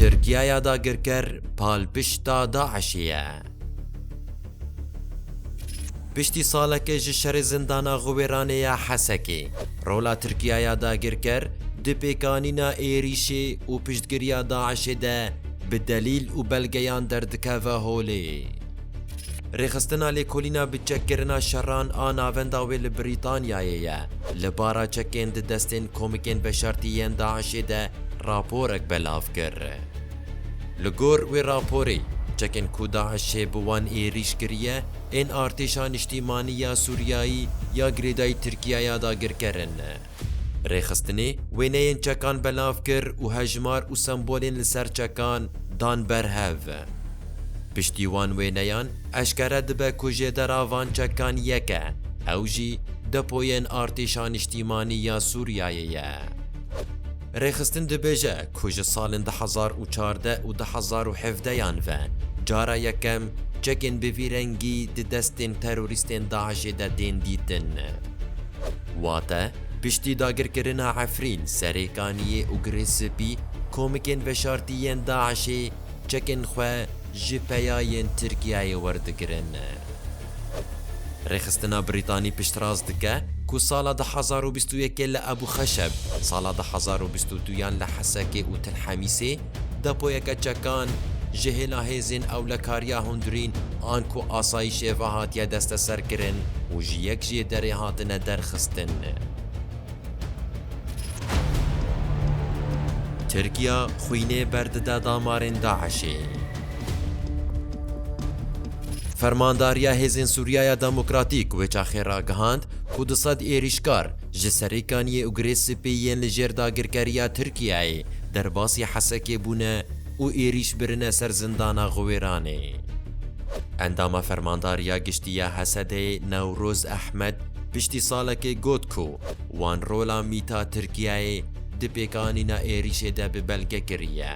Tirkiye ya dagirker palpişta DAIŞ'ê ye. Piştî saleke ji şerê zindana Xiwêranê ya Hesekê, rola Tirkiye ya dagirker di pêkanîna êrîşê û piştgiriya DAIŞ'ê de bi delîl û belgeyan derdikeve holê. Rêxistina lêkolîna bi çekkirina şeran a navenda wê li Brîtanyayê ye. Li bara çekên di destên komikên veşartî yên DAIŞ'ê de raporek belav kir. Li gor wê raporê, çekên ku DAIŞ'ê bi wan êrîş kiriye, ên Artêşa Niştîmanî ya Sûriyayî ya girêdayî Tirkiyaya dagirker in. Rêxistinê wêneyên çekan belav kir û hejmar û sembolên li ser çekan dan ber hev. Piştî wan wêneyan eşkere dibe ku jêdera van çekan yek e, ew jî depoyên Artêşa Niştîmanî ya Sûriyeyê ye. Rêxistin dibêje ku ji salên du hezar û çardeh û du hezar û hevdeh yan ve cara yekem çekên bi vî rengî di destên terorîstên DAIŞ'ê de tên dîtin. Wate, piştî dagirkirina Efrîn, Serêkaniyê û Girê Spî, komikên veşartî yên DAIŞ'ê çekên xwe ji peya yên Tirkiyeyê werdigirin. Rêxistina Brîtanî piştrast dike ku sala du hezar û bîst û yekê li Ebû Xeşeb, sala du hezar û bîst û du yan li Hesekê û Til Hemîsê, Depoyeke çekan ji hêla hêzên ewlekariya hundirîn an ku asayîşê ve hatiye desteserkirin û ji yek jê derê hatine derxistin. Tirkiya xwînê berdide damarên DAIŞ'ê. Fermandariya Hêzên Sûriyaya Demokratîk wê çaxê ragihand ku du sed êrîşkar Ji serêkaniyê û girê sipê yên li jêr dagirkeriya Tirkiyeyê derbasî Hesekê bûne û êrîş birine ser zindana Xwêranê. Endama Fermandariya Giştî ya Hesedê Newroz Ehmed piştî salekê got ku wan rola mîta Tirkiyeyê di pêkanîna êrîşê de bi belge kiriye.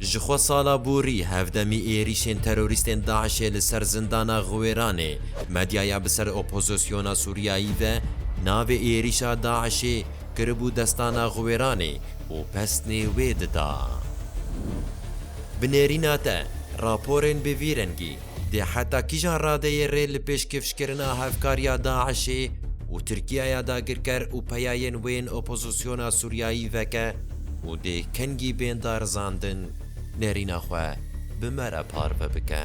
Ji xwe sala borî hevdemî êrîşên terorîstên DAIŞ'ê li ser zindana Xiwêranê, medyaya bi ser opozisyona Sûriyayî ve navê êrîşa DAIŞ'ê kiribû Destana Xiwêranê û pesnê wê dida. Bi nêrîna te, raporên bi vî rengî. Dê heta kîjan radeyê rê li pêşkêfşkirina hevkariya DAIŞ'ê û Tirkiyaya dagirker û peyayên wê yên opozisyona Sûriyayî veke û dê kengî bên darizandin nêrîna xwe bi me re parve bike.